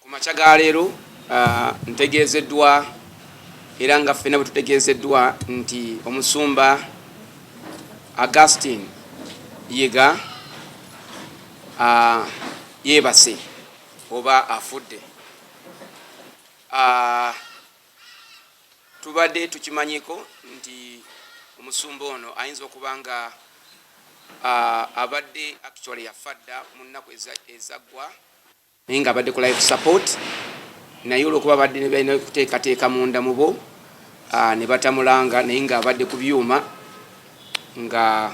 Ku makya ga leero ntegeezeddwa era nga ffena bwe tutegeezeddwa nti omusumba Augustine Yiga yeebase oba afudde. Tubadde tukimanyiko nti omusumba ono ayinza okuba nga abadde actually yafa dda mu nnaku ezaggwa. naye nga abadde ku life support naye olwokuba abadde nebalina okuteekateeka munda mubo ah, ne batamulanga naye nga abadde ku byuma nga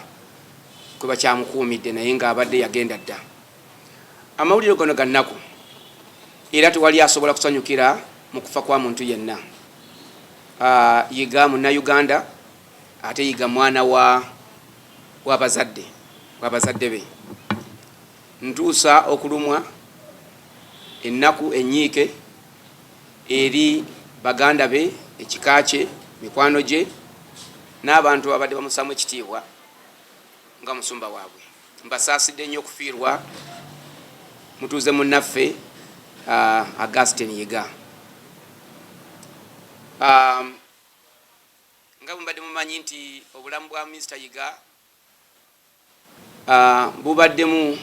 kwe bakyamukuumidde naye nga abadde yagenda dda amawulire gano ga nnaku era tewali asobola kusanyukira mu kufa kwa muntu yenna ah, yiga munnayuganda ate yiga mwana wa wabazadde wabazadde be Ntuusa okulumwa, ennaku, ennyiike eri baganda be, ekika kye, mikwano gye n'abantu ababadde bamussaamu ekitiibwa nga musumba waabwe. Mbasaasidde nnyo okufiirwa mutuuze munnaffe Augustine Yiga. Nga bwe mubadde mumanyi nti obulamu bwa Minisita Yiga uh, bubaddemu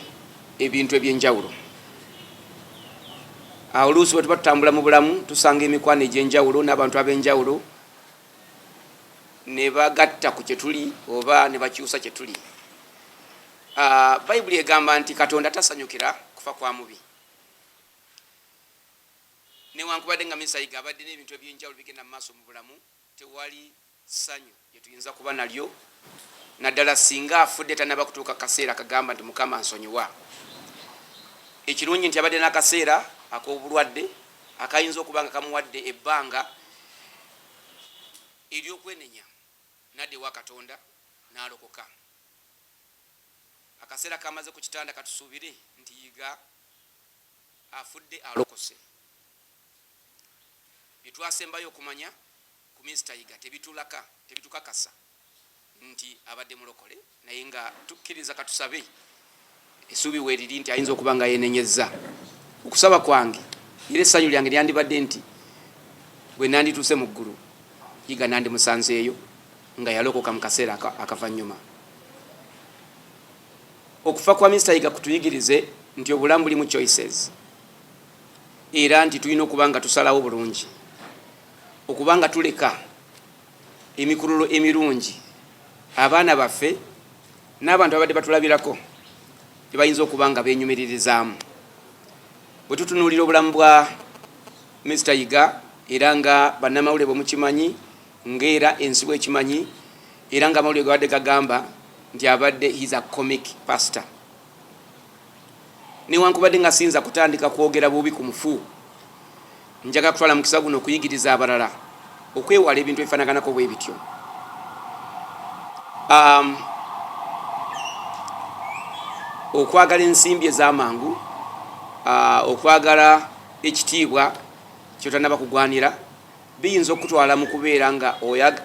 ebintu ebyenjawulo awo oluusi bwe tuba tutambula mu bulamu tusanga emikwano egyenjawulo n'abantu ab'enjawulo ne bagatta ku kye tuli oba ne bakyusa kye tuli ah, bayibuli egamba nti katonda tasanyukira kufa kwa mubi newankubadde nga misayiga abadde n'ebintu ebyenjawulo bigenda mu maaso mu bulamu Tewali ssanyu lye tuyinza kuba nalyo, naddala singa afudde tannaba kutuuka ku kaseera akagamba nti, Mukama nsonyiwa. Ekirungi nti abadde n'akaseera ak'obulwadde akayinza okuba nga kamuwadde ebbanga ery'okwenenya n'adda ewa Katonda n'alokoka. Akaseera k'amaze ku kitanda katusuubire nti yiga. afudde alokose byetwasembayo okumanya ku Minsita Yiga tebitulaka tebitukakasa nti abadde mulokole naye nga tukkiriza katusabe esuubi weriri nti ayinza okuba nga yenenyezza okusaba kwange era essanyu lyange lyandibadde nti bwe nandituuse mu ggulu yiga nandimusanzeeyo nga yalokoka mu kaseera akavannyuma Okufa kwa Mister Yiga kutuyigirize nti obulamu bulimu choices era nti tulina okuba nga tusalawo bulungi okuba nga tuleka emikululo emirungi abaana baffe n'abantu abadde batulabirako gye bayinza okuba nga benyumiririzaamu bwe tutunuulira obulamu bwa Mister Yiga era nga bannamawulire bwe mukimanyi Ng'era ensi bw'ekimanyi era ng'amawulire ge gabadde gagamba nti abadde his a comic pastor. Newankubadde nga siyinza kutandika kwogera bubi ku mufu, njaga kutwala mukisa guno okuyigiriza abalala okwewala ebintu ebifanaganako bwe bityo. Um, okwagala ensimbi ez'amangu, uh, okwagala ekitiibwa kyotanaba kugwanira biyinza okukutwala mu kubeera nga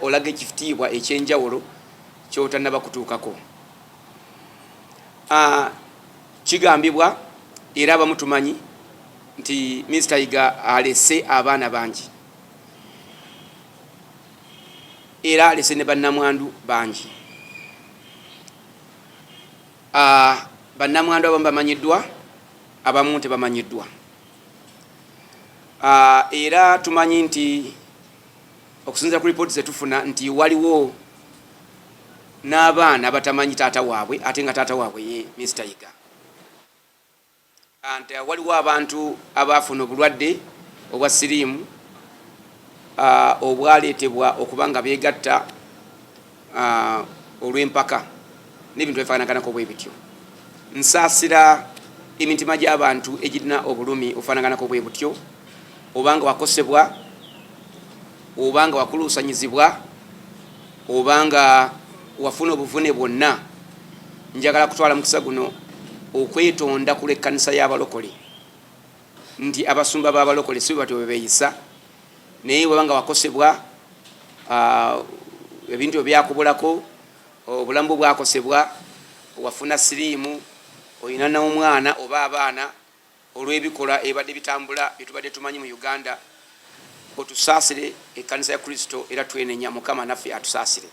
olaga ekiftiibwa eky'enjawulo ky'otannaba kutuukako. Ah, kigambibwa era abamu tumanyi nti Minisita Yiga alese abaana bangi era alese ne bannamwandu bangi. Ah, bannamwandu abamu bamanyiddwa, abamu tebamanyiddwa. Ah, era tumanyi nti okusinzira ku lipooti zetufuna nti waliwo n'abaana abatamanyi taata waabwe ate nga taata waabwe ye Mister Yiga anti ah, waliwo abantu abaafuna obulwadde obwa siriimu ah, obwaleetebwa okuba nga beegatta uh, olw'empaka n'ebintu ebifaananganako bwe bityo nsaasira emitima gy'abantu egirina obulumi ofaananganako bwe butyo obanga wakosebwa obanga wakuluusanyizibwa obanga wafuna obuvune bwonna njagala kutwala mukisa guno okwetonda ku lw'ekkanisa y'abalokole nti abasumba b'abalokole si bwe batyo bwe beeyisa naye waba nga wakosebwa ah, ebintu ebyakubulako obulamu bwe bwakosebwa wafuna siriimu olina n'omwana oba abaana olw'ebikolwa ebibadde bitambula bye tubadde tumanyi mu uganda otusaasire ekkanisa ya kristo era twenenya mukama naffe atusaasire